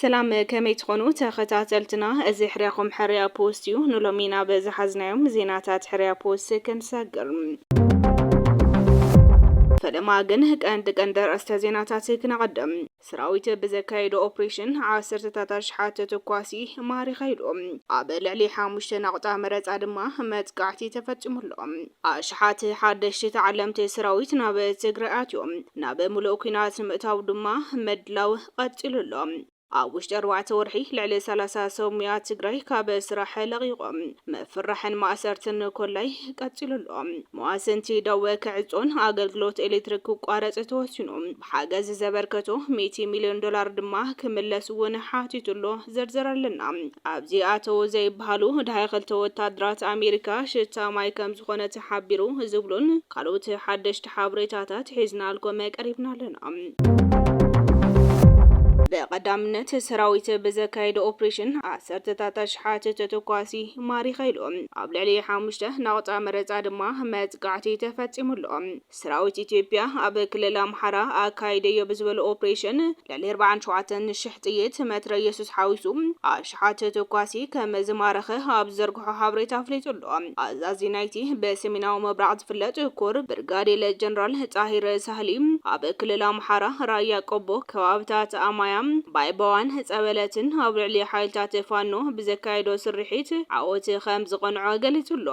ሰላም ከመይ ትኾኑ ተኸታተልትና፣ እዚ ሕርያኹም ሕርያ ፖስት እዩ። ንሎሚ ናብ ዝሓዝናዮም ዜናታት ሕርያ ፖስት ክንሰግር ፈለማ ግን ቀንዲ ቀንዲ ርእስተ ዜናታት ክነቐድም ሰራዊት ብዘካየዶ ኦፕሬሽን ዓሰርተታት ኣሽሓት ተኳሲ ማሪኸ ኢሉ። ኣብ ልዕሊ ሓሙሽተ ናቑጣ መረጻ ድማ መጥቃዕቲ ተፈጺሙ ኣሎ። ኣሽሓት ሓደሽቲ ተዓለምቲ ሰራዊት ናብ ትግራይ ኣትዮም። ናብ ምሉእ ኲናት ንምእታው ድማ ምድላው ቐጺሉ ኣሎ። ኣብ ውሽጢ ኣርባዕተ ወርሒ ልዕሊ ሰላሳ ሰብ ሙያ ትግራይ ካብ ስራሕ ለቒቖም። ምፍርራሕን ማእሰርትን ኮላይ ቀጺሉ ኣሎ። መዋስንቲ ደወ ክዕጾን ኣገልግሎት ኤሌክትሪክ ክቋረጽ ተወሲኑ። ሓገዝ ዘበርከቶ ሚእቲ ሚልዮን ዶላር ድማ ክምለስ እውን ሓቲቱ ኣሎ። ዝርዝር ኣለና። ኣብዚ ኣተዉ ዘይብሃሉ ደሃይ ክልተ ወታደራት ኣሜሪካ ሽታ ማይ ከምዝኾነ ተሓቢሩ ዝብሉን ካልኦት ሓደሽቲ ሓበሬታታት ሒዝናልኩም ቀሪብና ኣለና። ብቐዳምነት ሰራዊት ብዘካየዶ ኦፕሬሽን ዓሰርተታት ኣሽሓት ተተኳሲ ማሪኸ ኢሉ። ኣብ ልዕሊ ሓሙሽተ ናቑጣ መረፃ ድማ መጥቃዕቲ ተፈፂሙ ኣሎ። ሰራዊት ኢትዮጵያ ኣብ ክልል ኣምሓራ ኣካይደዮ ብዝበሎ ኦፕሬሽን ልዕሊ ኣርባዓን ሸውዓተን ሽሕ ጥይት መትረየስስ ሓዊሱ ኣሽሓት ተኳሲ ከምዝማረኸ ኣብ ዝዘርግሖ ሓበሬታ ኣፍሊጡ ኣሎ። ኣዛዚ ናይቲ ብሰሜናዊ ምብራቕ ዝፍለጥ ኮር ብርጋዴል ጀነራል ጣሂር ሳህሊ ኣብ ክልል ኣምሓራ ራያ ቆቦ ከባብታት ኣማያ፣ ባይባዋን ጸበለትን ኣብ ልዕሊ ሓይልታት ፋኖ ብዘካየዶ ስርሒት ዓወት ከምዝቐንዖ ገሊጹ ኣሎ።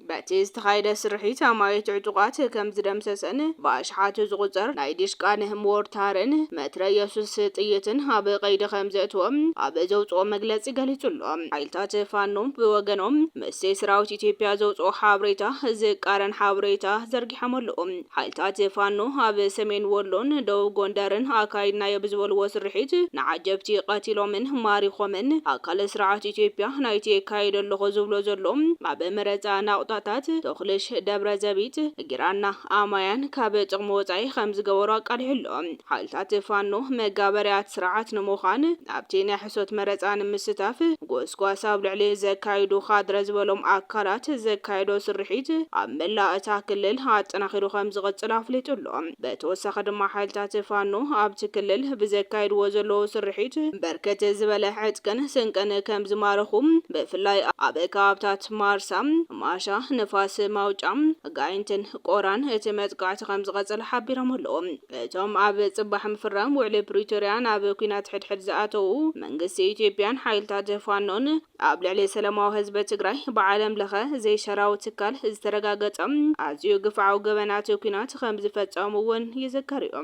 በቲ ዝተኻየደ ስርሒት ኣማኢት ዕጡቓት ከም ዝደምሰሰን ብኣሽሓት ዝቑጸር ናይ ዲሽቃን ሞርታርን መትረየሱስ ጥይትን ኣብ ቀይዲ ከም ዘእተወ ኣብ ዘውጽኦ መግለጺ ገሊጹ ኣሎ። ሓይልታት ፋኖ ብወገኖም ምስቲ ሰራዊት ኢትዮጵያ ዘውጽኦ ሓብሬታ ዝቃረን ሓብሬታ ዘርጊሖም ኣለዉ። ሓይልታት ፋኖ ኣብ ሰሜን ወሎን ደቡብ ጎንደርን ኣካይድናዮ ብዝበልዎ ስርሒት ንዓጀብቲ ቀቲሎምን ማሪኾምን። ኣካለ ስርዓት ኢትዮጵያ ናይቲ የካይዶ ኣለኹ ዝብሎ ዘሎ ኣብ መረፃ ናቑጣታት ቶኽልሽ፣ ደብረዘቢጥ፣ ጊራና፣ ኣማያን ካብ ጥቕሚ ወፃኢ ከምዝገበሮ ኣቃሊሑ ኣሎ። ሓይልታት ፋኖ መጋበርያት ስርዓት ንምዃን ናብቲ ናይ ሕሶት መረፃ ንምስታፍ ጎስጓስ ኣብ ልዕሊ ዘካይዱ ካድረ ዝበሎም ኣካላት ዘካየዶ ስርሒት ኣብ መላእ እታ ክልል ኣጠናኺሩ ከምዝቕፅል ኣፍሊጡ ኣሎ። በተወሳኺ ድማ ሓይልታት ፋኖ ኣብቲ ክልል ብዘካይድዎ ዘለዉ ስርሒት በርከት ዝበለ ዕጥቅን ስንቅን ከምዝማረኹ ብፍላይ ኣብ ከባብታት ማርሳ፣ ማሻ፣ ንፋስ ማውጫ፣ ጋይንትን ቆራን እቲ መጥቃዕቲ ከምዝቐፀለ ሓቢሮም ኣለዉ። እቶም ኣብ ፅባሕ ምፍራም ውዕሊ ፕሪቶርያ ናብ ኲናት ሕድሕድ ዝኣተዉ መንግስቲ ኢትዮጵያን ሓይልታት ፋኖን ኣብ ልዕሊ ሰለማዊ ህዝቢ ትግራይ ብዓለም ለኸ ዘይሻራዊ ትካል ዝተረጋገፀ ኣዝዩ ግፍዓዊ ገበናት ኲናት ከምዝፈፀሙ እውን ይዝከር እዩ።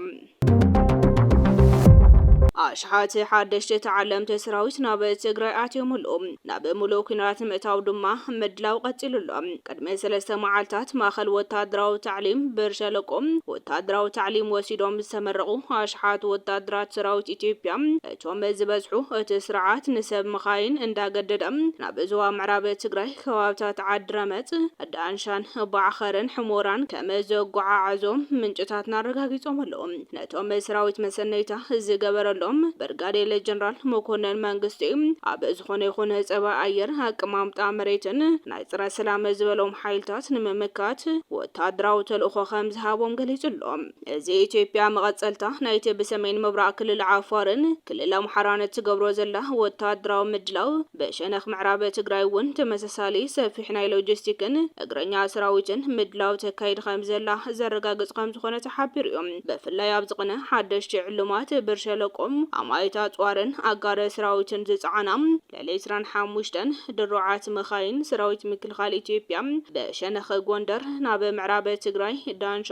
ኣሽሓት ሓደሽቲ ተዓለምቲ ሰራዊት ናብ ትግራይ ኣትዮም ኣለዉ። ናብ ምሉእ ኲናት ንምእታው ድማ ምድላው ቀጺሉ ኣሎ። ቅድሚ ሰለስተ መዓልታት ማእከል ወተሃደራዊ ታዕሊም ብር ሸለቆ ወተሃደራዊ ታዕሊም ወሲዶም ዝተመረቑ ኣሽሓት ወተሃደራት ሰራዊት ኢትዮጵያ እቶም ዝበዝሑ እቲ ስርዓት ንሰብ መኻይን እንዳገደደ ናብ ዞባ ምዕራብ ትግራይ ከባብታት ዓዲ ረመፅ፣ ዳንሻን፣ ባዕኸርን ሕሞራን ከም ዘጓዓዓዞም ምንጭታትና ኣረጋጊፆም ኣለው። ነቶም ሰራዊት መሰነይታ ዝገበረሎም ብርጋዴል ጀነራል መኮነን መንግስቲ ኣብ ዝኾነ ይኹን ፀባይ ኣየር፣ ኣቀማምጣ መሬትን ናይ ፀረ ሰላም ዝበሎም ሓይልታት ንምምካት ወታደራዊ ተልእኾ ከምዝሃቦም ገሊፁ ኣሎ። እዚ ኢትዮጵያ መቐፀልታ ናይቲ ብሰሜን ምብራቕ ክልል ዓፋርን ክልል ኣምሓራን እትገብሮ ዘላ ወታደራዊ ምድላው ብሸነኽ ምዕራብ ትግራይ እውን ተመሳሳሊ ሰፊሕ ናይ ሎጂስቲክን እግረኛ ሰራዊትን ምድላው ተካይድ ከምዘላ ዘረጋግፅ ከምዝኾነ ሓቢሩ እዩ። ብፍላይ ኣብ ዝቕነ ሓደሽቲ ዕሉማት ብር ሸለቆ፣ ኣማኢት ኣጽዋርን ኣጋር ስራዊትን ዝጸዓና ልዕሊ ዕስራን ሓሙሽተን ድሩዓት መኻይን ሰራዊት ምክልኻል ኢትዮጵያ ብሸነኽ ጎንደር ናብ ምዕራብ ትግራይ ዳንሻ፣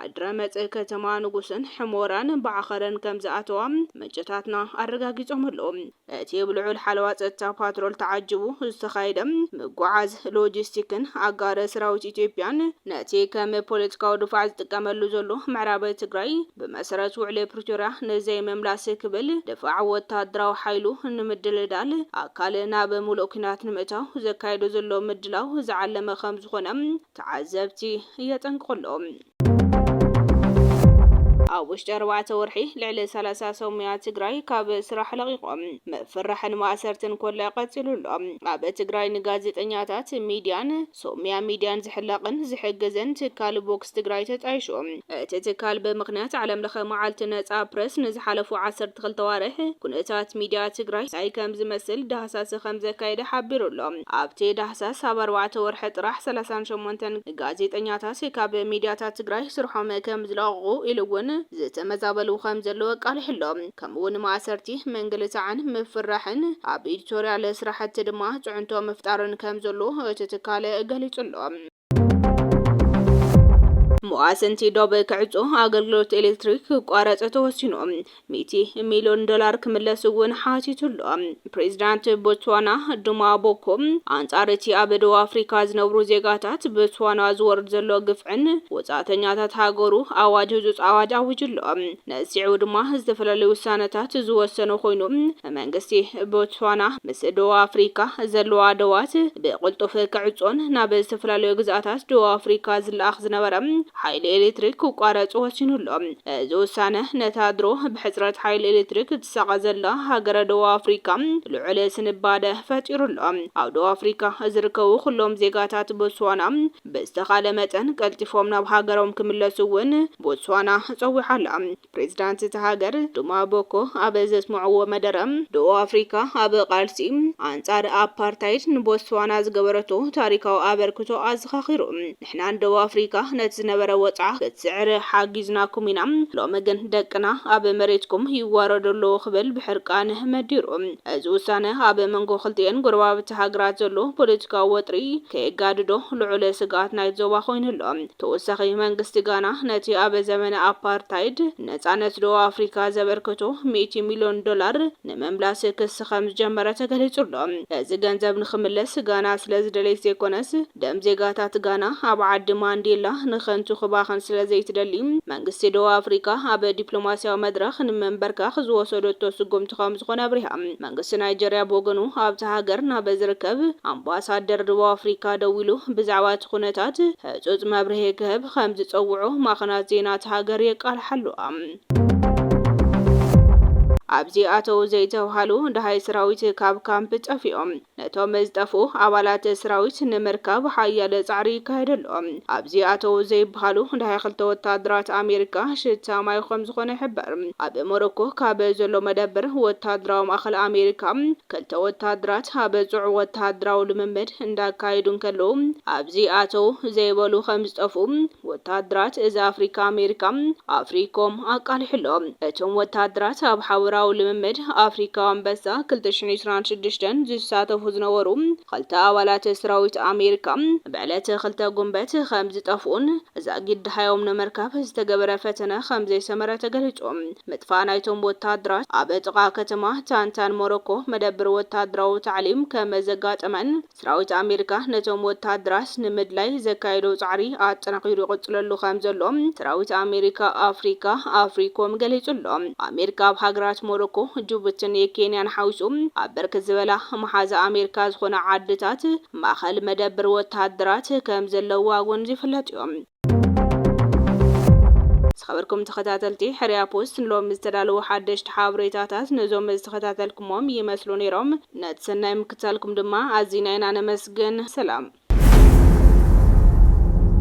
ዓድረመጽ፣ ከተማ ንጉስን ሕሞራን ብዓኸረን ከምዝኣተዋ ምንጭታትና ኣረጋጊጾም ኣለዉ። እቲ ብልዑል ሓለዋ ጸጥታ ፓትሮል ተዓጂቡ ዝተኻየደ ምጉዓዝ ሎጂስቲክን ኣጋር ሰራዊት ኢትዮጵያን ነቲ ከም ፖለቲካዊ ድፋዕ ዝጥቀመሉ ዘሎ ምዕራብ ትግራይ ብመሰረት ውዕሊ ፕሪቶርያ ንዘይምምላስ ክብል ድፋዕ ወታደራዊ ሓይሉ ንምድልዳል ኣካል ናብ ሙሉእ ኲናት ንምእታው ዘካይዶ ዘሎ ምድላው ዝዓለመ ከምዝኾነ ተዓዘብቲ የጠንቅቑ ኣለዉ። ኣብ ውሽጢ ኣርባዕተ ወርሒ ልዕሊ ሰላሳ ሰብ ሙያ ትግራይ ካብ ስራሕ ለቒቖም። ምፍርራሕን ማእሰርትን ኮለዕ ቀፂሉ ኣሎ። ኣብ ትግራይ ንጋዜጠኛታት፣ ሚድያን ሰብ ሙያ ሚድያን ዝሕለቕን ዝሕግዝን ትካል ቮክስ ትግራይ ተጣይሹ። እቲ ትካል ብምኽንያት ዓለም ለኸ መዓልቲ ነፃ ፕረስ ንዝሓለፉ ዓሰርተ ክልተ ኣዋርሕ ኩነታት ሚድያ ትግራይ እንታይ ከምዝመስል ዳህሳሰ ከምዘካየደ ሓቢሩ ኣሎ። ኣብቲ ዳህሳስ ኣብ ኣርባዕተ ወርሒ ጥራሕ ሰላሳን ሸሞንተን ጋዜጠኛታት ካብ ሚድያታት ትግራይ ስርሖም ከምዝለቐቑ ኢሉ እውን ዝተመዛበሉ ከምዘለዉ ኣቃሊሑ ኣሎ። ከምኡ እውን ማእሰርቲ፣ ምንግልታዕን ምፍርራሕን ኣብ ኢዲቶሪያል ስራሕቲ ድማ ፅዕንቶ ምፍጣርን ከምዘሎ እቲ ትካል ገሊፁ ኣሎ። መዋስንቲ ዶብ ክዕጾ፣ ኣገልግሎት ኤሌክትሪክ ክቋረጽ ተወሲኑ፣ ሚእቲ ሚልዮን ዶላር ክምለስ እውን ሓቲቱ ኣሎ። ፕሬዚዳንት ቦትስዋና ዱማ ቦኮ ኣንጻር እቲ ኣብ ደቡብ ኣፍሪካ ዝነብሩ ዜጋታት ቦትስዋና ዝወርድ ዘሎ ግፍዕን ወጻእተኛታት ሃገሩ ኣዋጅ ህጹጽ ኣዋጅ ኣዊጁ ኣሎ። ነጺዑ ድማ ዝተፈላለዩ ውሳነታት ዝወሰነ ኮይኑ፣ መንግስቲ ቦትስዋና ምስ ደቡብ ኣፍሪካ ዘለዋ ደዋት ብቕልጡፍ ክዕጾን ናብ ዝተፈላለዩ ግዝኣታት ደቡብ ኣፍሪካ ዝለኣኽ ዝነበረ ሓይሊ ኤሌክትሪክ ክቋረጽ ወሲኑ ኣሎ። እዚ ውሳነ ነታ ድሮ ብሕጽረት ሓይሊ ኤሌክትሪክ እትሳቐ ዘላ ሃገረ ደቡብ ኣፍሪካ ልዑል ስንባደ ፈጢሩ ኣሎ። ኣብ ደቡብ ኣፍሪካ ዝርከቡ ኩሎም ዜጋታት ቦትስዋና፣ ብዝተኻለ መጠን ቀልጢፎም ናብ ሃገሮም ክምለሱ እውን ቦትስዋና ጸዊዓ ኣላ። ፕሬዚዳንት እታ ሃገር ዱማ ቦኮ ኣብ ዘስምዕዎ መደረ፣ ደቡብ ኣፍሪካ ኣብ ቃልሲ ኣንጻር ኣፓርታይድ ንቦትስዋና ዝገበረቶ ታሪካዊ ኣበርክቶ ኣዘኻኺሩ፣ ንሕና ንደቡብ ኣፍሪካ ነቲ ዝነበረ ወጽዓ ክትስዕር ሓጊዝናኩም ኢና፣ ሎሚ ግን ደቅና ኣብ መሬትኩም ይዋረዱ ኣለዉ ክብል ብሕርቃን መዲሩ። እዚ ውሳነ ኣብ መንጎ ክልቲኤን ጎረባብቲ ሃገራት ዘሎ ፖለቲካዊ ወጥሪ ከየጋድዶ ልዑል ስግኣት ናይቲ ዞባ ኮይኑ ኣሎ። ተወሳኺ መንግስቲ ጋና ነቲ ኣብ ዘመነ ኣፓርታይድ ነጻነት ደቡብ ኣፍሪካ ዘበርከቶ ሚእቲ ሚልዮን ዶላር ንምምላስ ክሲ ከምዝጀመረ ተገሊጹ ኣሎ። እዚ ገንዘብ ንክምለስ ጋና ስለዝደለየት ዘይኮነስ ደም ዜጋታት ጋና ኣብ ዓዲ ማንዴላ ንከንቱ ክባኽን ስለዘይትደሊ መንግስቲ ደቡብ ኣፍሪቃ ኣብ ዲፕሎማስያዊ መድረኽ ንመንበርካኽ ዝወሰደቶ ስጉምቲ ከምዝኾነ ኣብሪሃ። መንግስቲ ናይጀርያ ብወገኑ ኣብታ ሃገር ናብ ዝርከብ ኣምባሳደር ደቡብ ኣፍሪቃ ደዊሉ ብዛዕባ እቲ ኩነታት ህጹጽ መብርሂ ክህብ ከምዝጸውዖ ማዕኸናት ዜና እታ ሃገር የቃልሓ ኣለዋ። ኣብዚ ኣተው ዘይተብሃሉ ደሃይ ሰራዊት ካብ ካምፕ ጠፊኦም። ነቶም ዝጠፍኡ ኣባላት ስራዊት ንምርካብ ሓያለ ጻዕሪ ይካየድ ኣሎ። ኣብዚ ኣተው ዘይብሃሉ ደሃይ ክልተ ወተሃደራት ኣሜሪካ ሽታ ማይ ከምዝኾነ ይሕበር። ኣብ ሞሮኮ ካብ ዘሎ መደብር ወተሃደራዊ ማእኸል ኣሜሪካ ክልተ ወተሃደራት ኣብ ጽዑቕ ወተሃደራዊ ልምምድ እንዳካየዱ እንከለው ኣብዚ ኣተው ዘይበሉ ከምዝጠፍኡ ወተሃደራት እዚ ኣፍሪካ ኣሜሪካ፣ ኣፍሪኮም፣ ኣቃሊሑ ኣሎ። እቶም ወተሃደራት ኣብ ሓበራዊ ልምምድ ኣፍሪካዊ ኣንበሳ ክልተ ሽሕን ዕስራን ሽዱሽተን ዝሳተፉ ዝነበሩ ኽልተ ኣባላት ሰራዊት ኣሜሪካ ብዕለት ክልተ ጉንበት ከምዝጠፍኡን ዛጊድ ደሃዮም ንምርካብ ዝተገበረ ፈተነ ከምዘይሰመረ ተገሊፁ። ምጥፋእ ናይቶም ወተሃደራት ኣብ ጥቓ ከተማ ታንታን ሞሮኮ መደብር ወተሃደራዊ ታዕሊም ከመዘጋጠመን ሰራዊት ኣሜሪካ ነቶም ወተሃደራት ንምድላይ ዘካየዶ ጻዕሪ ኣጠናኺሩ ይቕጽለሉ ከምዘሎ ሰራዊት ኣሜሪካ ኣፍሪካ፣ ኣፍሪኮም፣ ገሊጹ ኣሎ። ኣሜሪካ ኣብ ሃገራት ሞሮኮ፣ ጁቡትን ኬንያን ሓዊሱ ኣብ ብርክት ዝበላ መሓዛ ኣሜሪካ ዝኾና ዓድታት ማእኸል መደብር ወተሃደራት ከምዘለዋ ኣጎንዚፉ ይፍለጥ'ዩ። ዝኸበርኩም ተኸታተልቲ ሕርያ ፖስት ንሎሚ ዝተዳለዉ ሓደሽቲ ሓበሬታታት ነዞም ዝተኸታተልኩሞም ይመስሉ ነይሮም። ነቲ ሰናይ ምክትታልኩም ድማ ኣዚና ኢና ነመስግን። ሰላም።